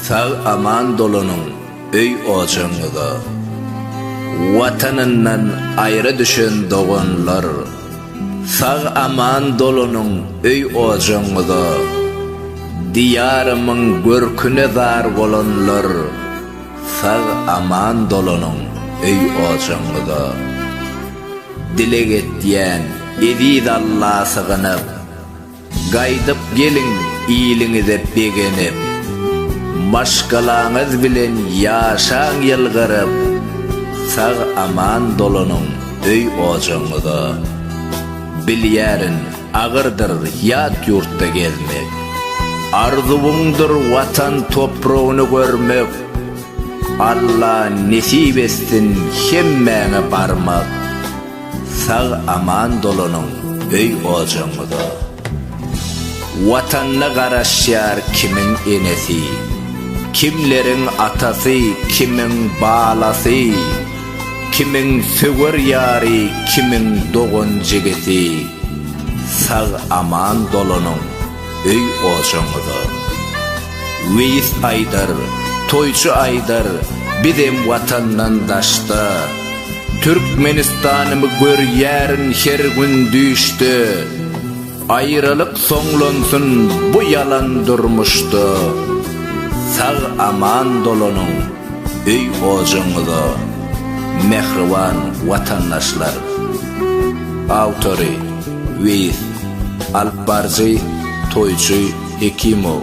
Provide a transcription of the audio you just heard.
Sag aman dolanyň öý ojagyňyza. Watanyndan aýra düşen doganlar. Sag aman dolanyň öý ojagyňyza. Diýarymyň görküne zar bolanlar. Sag aman dolanyň öý ojagyňyza. Dileg etýän eziz Alla sygynyp. Gaýdyp geliň iliňize begenip, Maşgalaňyz bilen ýaşaň ýylgyryp, Sag-aman dolanyň öý-ojagyňyza. Bilýärin, agyrdyr ýat ýurtda gezmek, Arzuwyňdyr Watan topragyny görmek, Alla nesip etsin hemmäňe barmak. Sag aman dolanyň öý ojagyňyza. Watanyna garaşýar kimiň enesi, kimleriň atasy, kimiň balasy, kimiň söwer ýary, kimiň dogan-jigisi. Sag aman dolanyň. öý ojaňyza. Weýis aýdar, toýçy aýdar, bizem watandan daşda. Türkmenistanymy görýärin her gün düýşde. Aýralyk soňlansyn bu ýalan durmuşda. Sag aman dolanyň öý ojaňyza. Mähriban watandaşlar! Awtory. Weýis, alypbaryjy, toýçy Hekimow.